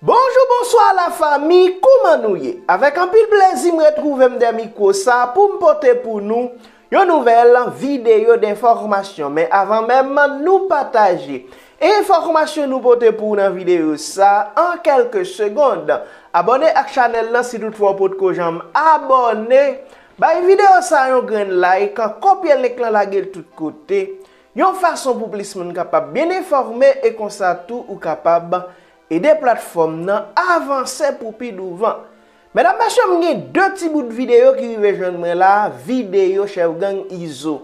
Bonjou bonswa la fami kouman nou ye avèk anpil plezi m retwouvem dè mikwo sa poum pote pou nou yon nouvèl videyo denfòmasyon men avan menm nou pataje enfòmasyon nou pote pou nan videyo sa an kèlke segond abòne ak chanèl lan si tout fwa ou potko janm abòne bay videyo sa yon grenn like kopye link lan lagel tout kote Yon fason pou plis moun kapab byen enfòme e konsa tou ou kapab ede platfòm nan avanse pou pi douvan. Medam mesye m gen 2 ti bout videyo ki rive jwenn mwen la videyo chèf gang Izo.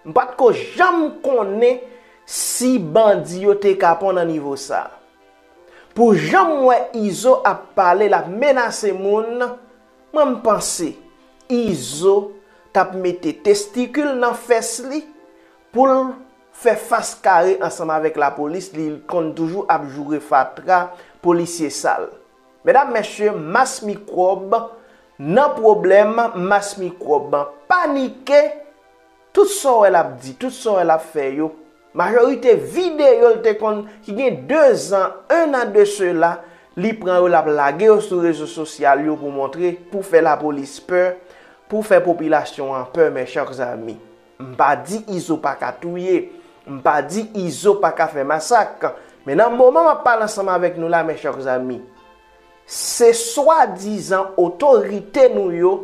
M pat ko janm konnen si bandi yo te kapon nan nivo sa. Pou janm wè Izo ap pale lap menase moun. Mwen m panse izo tap mete testikil nan fès li poul fè fas kare ansanm avèk lapolis li konn toujou ap joure fatra polisye sal medam mesye mas mikwòb nan pwoblèm mas mikwòb panike Tout sa w wè l ap di, tout sa w wè l ap fè yo, majorite videyo l te konn ki gen dezan, ennan de sela, li pran yo l ap lage yo sou rezo sosyal yo pou montre, pou fè lapolis pè, pou fè popilasyon an pè mes chers amis. M pa di Izo pa ka touye, m pa di Izo pa ka fè masak, men nan moman m ap pale ansanm avèk nou la mes chers amis, se swadizan otorite nou yo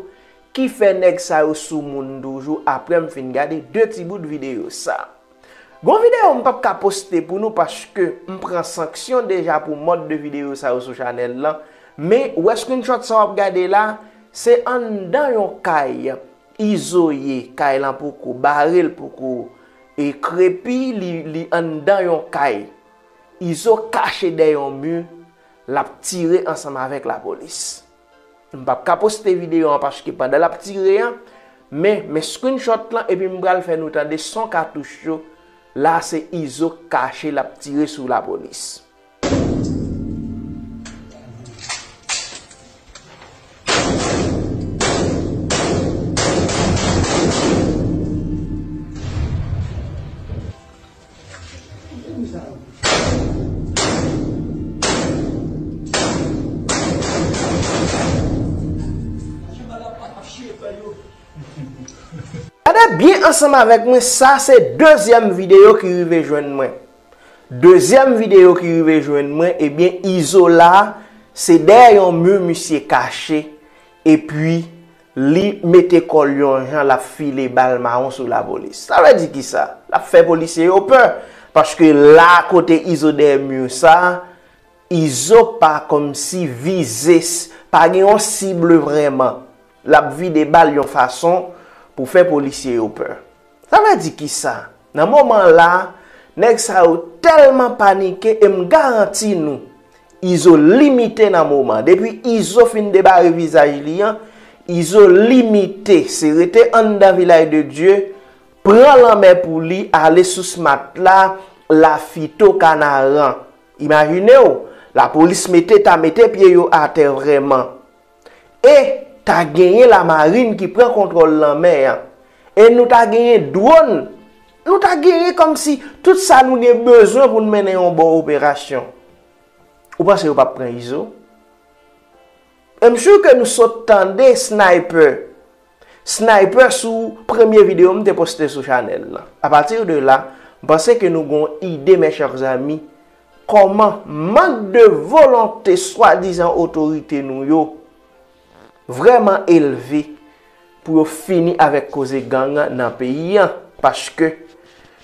Kifè nèg sa yo sou moun toujou aprèm fin gade 2 ti bout video sa. Gon video mpap ka poste pou nou paske mpran sanksyon deja pou mòd de video sa yo sou chanèl lan men wè screenshot sa wap gade la se anndan yon kay Izo ye kay lan poko barel poko krepi li anndan yon kay Izo kache dèyè yon mur lap tire ansanm avèk lapolis. M pap ka poste video an paske pandan lap tire an, men men screenshot lan epi m pral fè nou tande son katouch yo, la se Izo k kache lap tire sou lapolis. Gade byen ansanm avèk mwen sa se dezyèm videyo ki rive jwenn mwen Dezyèm videyo ki rive jwenn mwen ebyen Izola se dèyè yon mu misye kache epi Li mete kò l yon jan l ap file bal mawon sou lapolis. Sa vle di ki sa? L ap fè polisye yo pè. Paske la kote Izo dèyè mur sa, Izo pa kòmsi vize, pa gen yon cible vrèman. L ap vide bal yon fason pou fè polisye yo pè. Sa vle di kisa? Nan moman la, nèg sa yo tèlman panike e m garanti nou Izo limite nan moman. Depi Izo fin debare vizaj li an, Izo limite se rete anndan Vilaj de Dye, pran lanmè pou li ale sou Smat la, Lafito, Kanaran. Imajine w, lapolis mete ta mete pye yo atè vrèman. e ta genyen lamarin ki pran kontwòl lanmè a, e nou ta genyen dwòn, nou ta genyen kòmsi tout sa nou gen bezwen pou n mennen yon bon operasyon. Ou panse yo pap pran Izo? M sure ke nou sot tande sniper Sniper sou premye video m te poste sou chanèl lan. A pati de la, m panse ke nou gon ide mes chers amis koman mank de volonte swadizan otorite nou yo vreman elve pou yo fini avek koze gang nan peyi an. Paske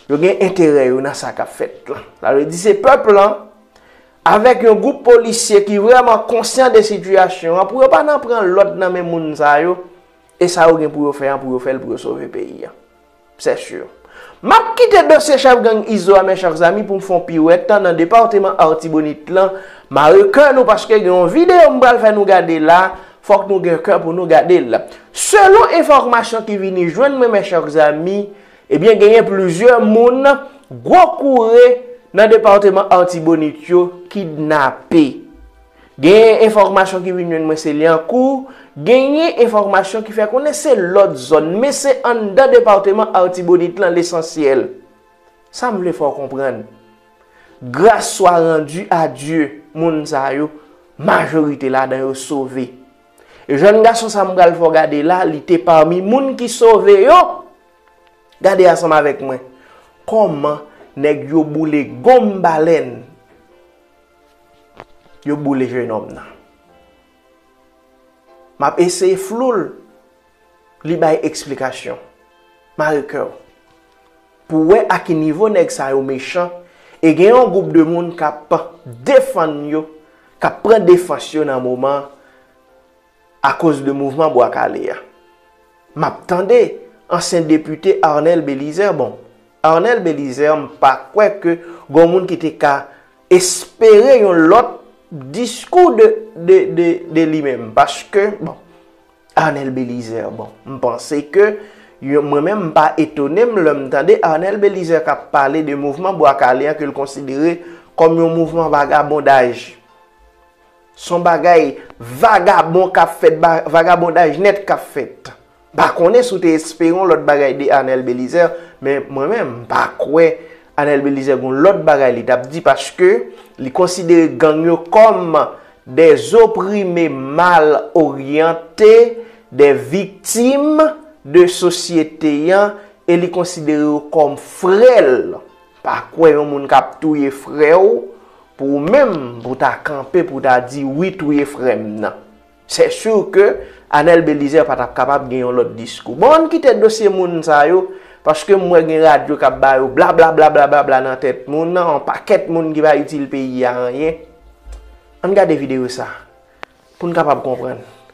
yo gen enterè yo nan sa kap fèt lan. Sa vle di se pèp lan Avèk yon gwoup polisye ki vrèman konsyan de sitiyasyon an pou yo pa nan pran lòd nan men moun sa yo e sa yo gen pou yo fè an pou yo fè l pou yo sove peyi an. Sè sur. M ap kite dosye chèf gang Izo a men chèr zami pou m fè yon piwèt tan nan departeman Artibonite lan mare kè nou paske gen yon videyo m pral fè nou gade la fòk nou gen kè pou nou gade l. Selon enfòmasyon ki vini jwenn mwen men chèr zami, Ebyen genyen plizyè moun gwo koure nan departeman Artibonite yo kidnape. Genyen enfòmasyon ki vin jwenn mwen se Lyankou, genyen enfòmasyon ki fè konnen se lòt zòn men se anndan departeman Artibonite lan lesansyèl. Sa m vle fè w konprann, gras swa randi a Dye moun sa yo majorite ladan yo sove. Jèn gason sa m pral fè w gade la li te pami moun ki sove yo. Gade ansanm avèk mwen kòman nèg yo boule gonm balèn yo boule jenòm nan. M ap eseye flou l, li bay eksplikasyon. Mare kè w pou w wè a ki nivo nèg sa yo mechan e gen yon gwoup de moun k ap defann yo, k ap pran defans yo nan moman an. Akoz de mouvman Bwa Kale a. M ap tande ansyen depite Arnel Belizaire bon, Arnel Belizaire m pa kwè ke gon moun ki te ka espere yon lòt diskou de li menm paske bon Arnel Belizaire bon m panse ke mwen menm m pa etone m lè m tande Arnel Belizaire k ap pale de mouvman Bwa Kale a ke l konsidere kòm yon mouvman vagabondaj. Son bagay vagabon kap fèt vagabondaj nèt kap fèt. Pa konnen si w te espere yon lòt bagay de Arnel Belizaire men mwen menm m pa kwè Arnel Belizaire gon lòt bagay li tap di paske li konsidere gang yo kòm dè zoprime mal oryante dè viktim de sosyete an e li konsidere yo kòm frè l. Pa kwè yon moun kap touye frèw pou ou menm pou ta kanpe pou ta di wi touye frèm nan. Sè sur ke Anel Belizaire pa tap kapab gen yon lòt diskou. Bon ann kite dosye moun sa yo paske m wè gen radyo kap ba yo blablablablabla nan tèt moun nan yon pakèt moun ki pa itil peyi a anyen. Ann gade videyo sa pou n kapab konprann.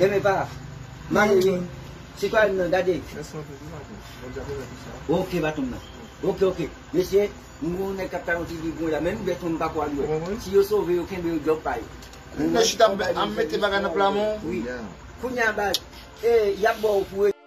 Renmen pa mare wi sitwayèn nan gade. Ok baton m nan. Ok ok mesye m gen yon nèg kap talanti li bon la men m bèt mwen m pako al wèl si yo sove yo kenbe yo djòb pa yo. Nèg chita ap mete bagay nan pla men w wi. Kounya baz yap baw pou.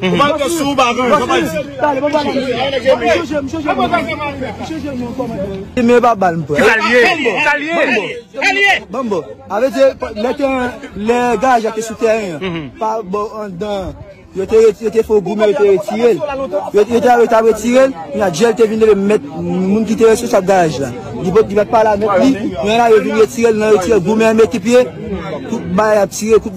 Ou pa gen sou ou pa gen, sa pa di. Tale mwen pale. Mwen juje, mwen juje. Mwen juje mwen pale. Mwen juje mwen komande. Ti men pa bal mwen. Sa liye. Sa liye. Sa liye. Bambo. Ave di, le te, le gaj a te sou teren. Pa bo an dan. Yo te retire, yo te fè goumen, yo te retire. Yo te avè, yo te avè retire. Yon a djèl te vin leve met moun ki te retire sa gaj la. Di pot, di bat pale a met li. Yon a yo vin retire, yon a retire goumen an met ki piye. Kout bay a tire, kout.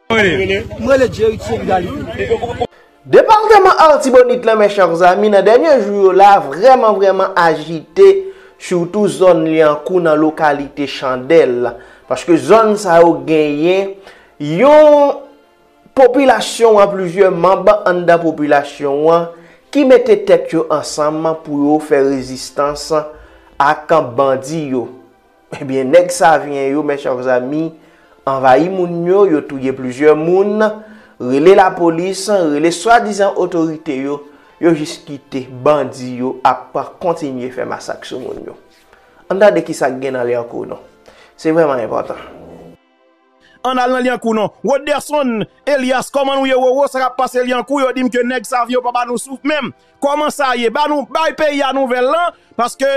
M rele Jerry Thierry Galifi. Departeman Artibonite lan men chèr zami nan dènye jou yo la vrèman vrèman ajite surtou zòn Lyankou nan lokalite Chandèl paske zòn sa yo genyen yon popilasyon an plizyè manb anndan popilasyon an ki mete tèt yo ansanm pou yo fè rezistans ak bandi yo. Ebyen nèg savyen yo mes chers amis anvayi moun yo, yo touye plizyè moun, rele lapolis, rele swadizan otorite yo, yo jis kite bandi yo ap kontinye fè masak sou moun yo. Ann tande kisa k gen nan Lyankou non. Se vrèman enpòtan. Ann al nan Lyankou non. Roderson Elias koman nou ye Roro sa kap pase Lyankou yo dim ke nèg Savien yo pa ba nou souf menm koman sa ye ba nou bay peyi a nouvèl lan paske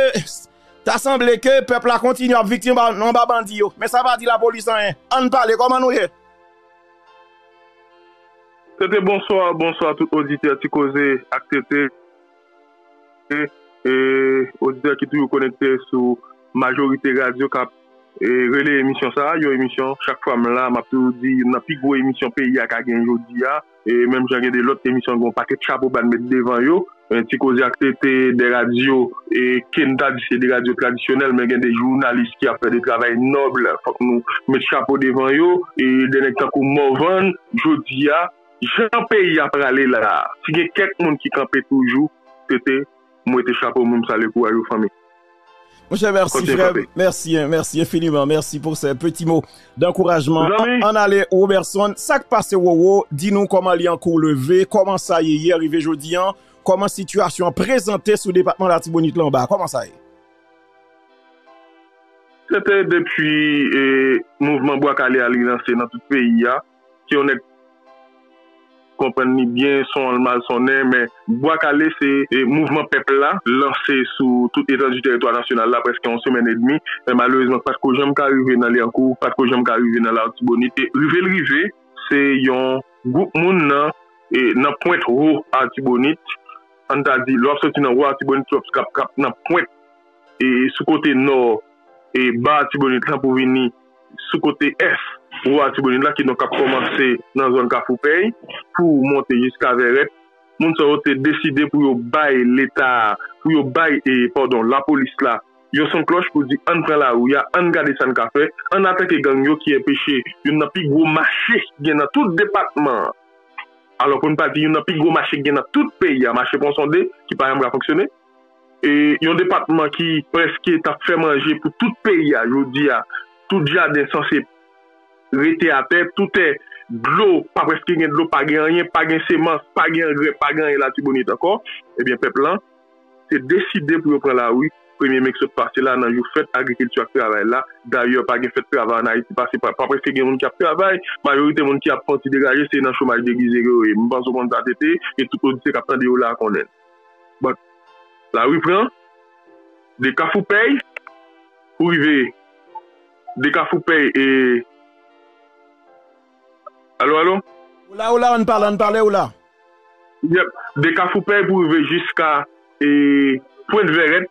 ta sanble ke pèp la kontinye ap viktim anba bandi yo men sa pa di lapolis anyen ann pale koman nou ye. TT bonswa, bonswa tout oditè ti koze ak TT. Salye oditè ki toujou konekte sou majorite radyo k ap releye emisyon sa a. Yon emisyon chak fwa m la m ap toujou di youn nan pi gwo emisyon peyi a ka gen jodi a. Menm jan gen de lòt emisyon gen yon pakèt chapo ba n met devan yo. Ti koze ak se te de radyo ke n ta di se de radyo tradisyonèl men gen de jounalis ki ap fè de travay nòb fòk nou met chapo devan yo. Dènèg tankou Morvan jodi a. Jan peyi a prale la a, si gen kèk moun ki kanpe toujou, se te m wete chapo m sale kouraj ou fanmi. Monchè mèsi frèm, mèsi, mèsi enfiniman, mèsi pou se peti mo dankourajman an ale Roberson, sak pase Roro, di nou kòman li ankou leve, kòman sa ye yè rive jodi an, kòman sitiyasyon an prezante sou depatman latibonit la anba, kòman sa ye? Se te depi mouvman bwa kale a li lanse nan tout peyi a. Si yon nèg konprann li byen, son an l mal sonnen, men Bwa Kale se mouvman pèp la lanse sou tout etandi teritwa nasyonal la prèske yon semèn edmi, men malerezman k pa t ko janm ka rive nan Lyankou, k pa t ko janm ka rive nan Latibonit. E rive l rive, se yon gwoup moun nan nan pwent Wo Atibonit, an n ta di lè w ap soti nan Wo Atibonit ki ap nan pwent sou kote nò Ba Atibonit lan pou vini. sou kote ès Wou Atibonit la, kidonk k ap kòmanse nan zòn Kafoupèy pou monte jiska Vèrèt, moun sa yo te deside pou yo bay Leta a, pou yo bay, padon, lapolis la yon son klòch pou di ann pran lari a, ann gade sa n ka fè, ann atake gang yo ki enpeche youn nan pi gwo mache ki gen nan tout depatman an, alò pou n pa di youn nan pi gwo mache ki gen nan tout peyi a, mache Ponsonde, ki pa janm ka fonksyone. Yon depatman ki preske tap fè manje pou tout peyi a jodi a tout jaden sanse rete atè tou tè dlo pa preske gen dlo pa gen anyen pa gen semans pa gen angrè pa gen anyen latibonit ankò ebyen pèp lan te deside pou yo pran lari premye me ki sot pase la nan jou fèt agrikilti ak travay la dayè pa gen fèt travay an ayiti pase pa preske gen moun ki ap travay majorite moun ki ap fon ti degaje se nan chomaj degize ke yo ye m panse ou konn sa TT e tout oditè kap tande yo la konnen. But lari pran de kafou pèy pou rive de kafou pèy e Alo alo? Ou la ou la ann pale ann pale ou la. Yep de kafou pèy pou rive jiska e pwent vèrèt.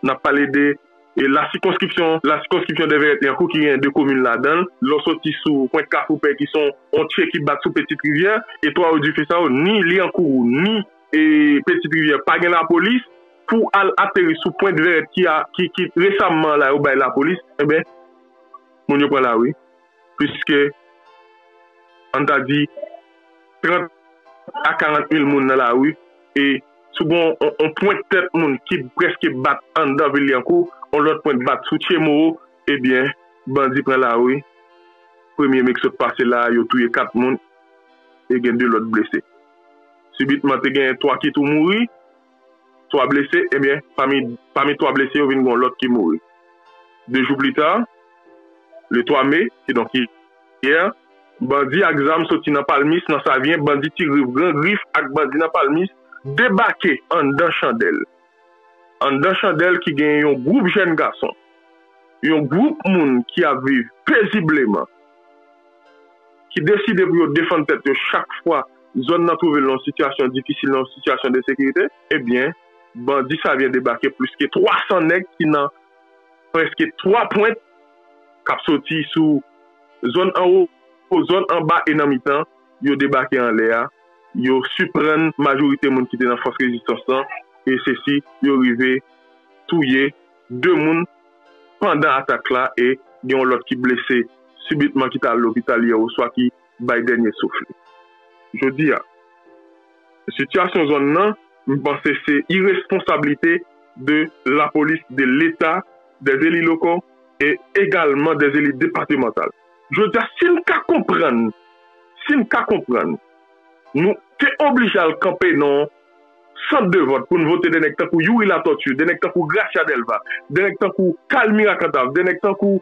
n ap pale de la sikonskripsyon la sikonskripsyon Dèvèrèt-Lyankou ki gen 2 komin ladan l. Lè w soti sou pwent Kafoupè ki se yon tye ki bat sou Petite Rivière, e twa odifis sa yo, ni Lyankou ni Petite Rivière pa gen lapolis, pou w al ateri sou pwent Vèrèt ki resamman la yo bay lapolis, enben moun yo pran lari. pliske, an n ta di, 30 a 40 mil moun nan lari e sou gen yon pwent tèt moun ki prèske bat anndan vil Lyankou, yon lòt pwent bat sou Tchemoro, ebyen, bandi pran lari, premye me ki sot pase la a, yo touye 4 moun e gen 2 lòt blese. Sibitman, te gen 3 ki tou mouri. 3 blese, ebyen pami 3 blese yo vin gen yon lòt ki mouri. 2 jou pli ta, le 3 me, kidonk yè, bandi ak zam soti nan Palmis nan Savyen, bandi Ti Grif, Gran Grif ak bandi nan Palmis debake anndan Chandèl. Anndan Chandèl ki gen yon gwoup jèn gason, yon gwoup moun ki ap viv pezibleman, ki deside pou yo defann tèt yo chak fwa, zòn nan twouve l nan yon sitiyasyon difisil, nan yon sitiyasyon de sekirite, ebyen bandi sa vyen debake plis ke 300 nèg ki nan prèske 3 pwent k ap soti sou zòn anwo, zòn anba e nan mitan, yo debake anlè a, yo siprann majorite moun ki te nan fòs rezistans lan e se si yo rive touye 2 moun pandan atak la e gen yon lòt ki blese sibitman ki t al lopital yè oswa ki. bay dènye souf li. Jodi a, sitiyasyon zòn nan, m panse se iresponsablite de lapolis, de leta, des élus locaux e egalman des élus departementales. Jodi a, si n ka konprann, si n ka konprann, nou te oblije al kanpe nan yon sant de vòt pou n vote de nèg tankou Youri Latortue, de nèg tankou Gracia Delva, de nèg tankou Kalmira Cantave, de nèg tankou.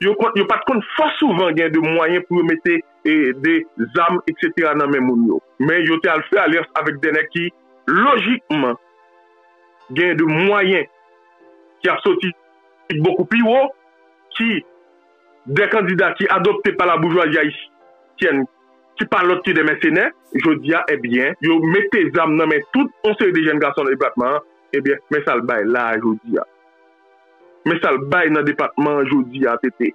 yo pat konn fò souvan gen de mwayen pou yo mete de zam etc nan men moun yo men yo te al fè alyans avèk de nèg ki lojikman gen de mwayen ki ap soti bokou pi wo ki de kandida ki adopte pa la boujwazi ayisyèn ki pa lòt ki de mèsenè jodi a ebyen yo mete zam nan men tout yon seri de jèn gason nan depatman an ebyen men sa l bay la a jodi a. Men sa l bay nan depatman an jodi a TT.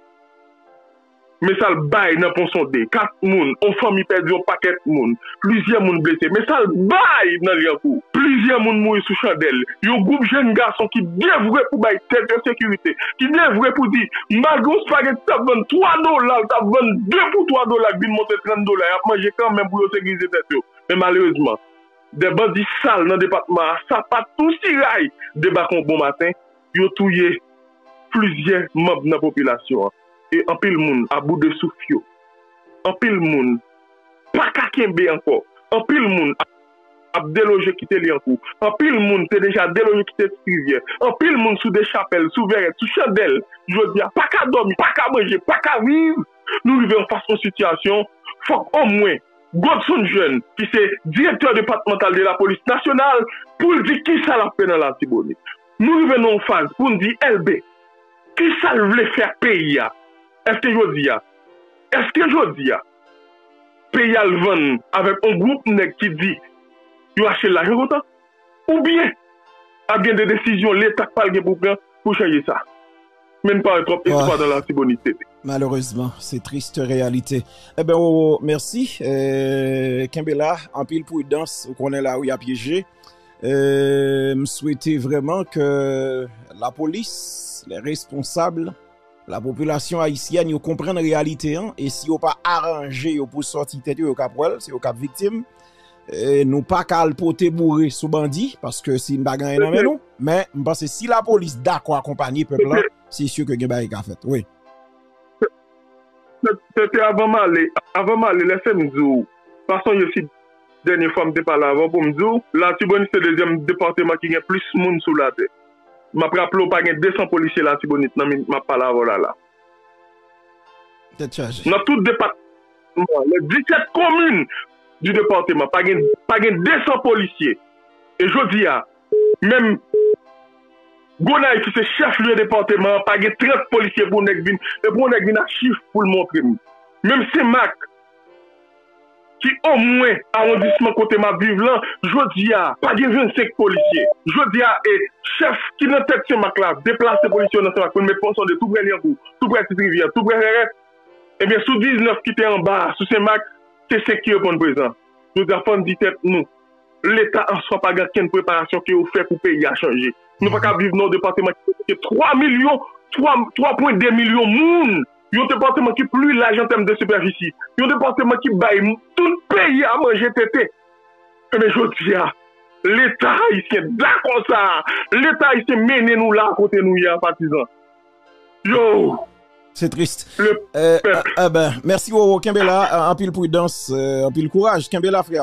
Men sa l bay nan Ponsonde, 4 moun, yon fanmi pèdi yon pakèt moun, plizyè moun blese. Men sa l bay nan Lyankou, plizyè moun mouri sou chandèl. Yon gwoup jenn gason ki devwe pou bay tèt yo sekirite, ki devwe pou di malgre yon spageti ki t ap vann 3 dola, l t ap vann 2 pou 3 dola k vin monte 30 dola, y ap manje kanmenm pou yo sekirize tèt yo. Men malerezman. 2 bandi sal nan depatman a sapat tou siray debakon bon maten yo touye plizyè manb nan popilasyon an e anpil moun abou de souf yo anpil moun paka kenbe ankò anpil moun ap deloje kite lyankou anpil moun te deja deloje kite ti rivyè anpil moun sou de chapèl sou vèrèt sou chandèl jodia paka dòmi paka manje paka viv nou rive anfas yon sitiyasyon fòk omwen Godson Jeune ki se Direktè Depatmantal de Lapolis Nasyonal pou l di kisa l ap fè nan Latibonit. Nou rive nan yon faz pou n di Elbe kisa l vle fè ak peyi a? Eske jodi a, eske jodi a peyi a l vann avèk yon gwoup nèg ki di yo achte l lajan kontan? Oubyen, ap gen de desizyon Leta k pral gen pou pran pou chanje sa. Men n pa wè twòp espwa nan Latibonit CP. Malerezman, se triste reyalite. Enben Roro, mèsi. Kenbe la, anpil pridans. Ou konnen lari a pyeje. M swete vrèman ke lapolis, lè responsab, lapopilasyon ayisyèn yo konprann reyalite an e si yo pa aranje yo pou sòti tèt yo, yo k ap wè l, se yo k ap viktim. Nou pa ka al pote boure sou bandi, paske si nou pa gen anyen nan men nou, men m panse si la polis dakò akonpanye pèp la, se si ke gen bagay ki ka fèt. Wi. Se te avan m ale, avan m ale lese m di w, pa sonje si dènye fwa m te pale avè w pou m di w, Latibonit se dezyèm depateman ki gen plis moun sou latè. M ap raple w pa gen 200 polisye Latibonit nan minit m ap pale avè w la la. Nan tout depatman an, nan 17 komin di depatman, pa gen 200 polisye. E jodi a, menm Gonayiv ki se chèf lye depatman an, pa gen 30 polisye pou yon nèg vin ak chif pou l montre m. Menm Senmak. ki omwen awondisman kote m ap viv lan, jodi a, pa gen 25 polisye. Jodi a, e, chèf ki nan tèt Senmak la deplase polisye yo nan Senmak pou l met pòs an de tou prè Lyangou, tou prè Ptit Rivyè, tou prè Rèrèt. Ebyen, sou 19 ki te anba a, sou Senmak, se 5 ki reponn prezan. Jodi a, fò n di tèt nou, Leta an swa pa gen okenn preparasyon ke yo fè pou peyi a chanje. Nou pa ka ap viv nan yon depateman ki gen plis ke 3 milyon, 3, 3 pwen 2 milyon moun! yon depatman ki pli laj an tèm de sipèfisi, yon depatman ki bay tout peyi a manje tete. Enben jodi a, Leta ayisyen dakò sa a, Leta ayisyen mennen nou la a kote nou ye a patizan. Yow! Se triste. Le peuple. Enben, mèsi Roro, kenbe la, anpil pridans, anpil kouraj. Kenbe la frè.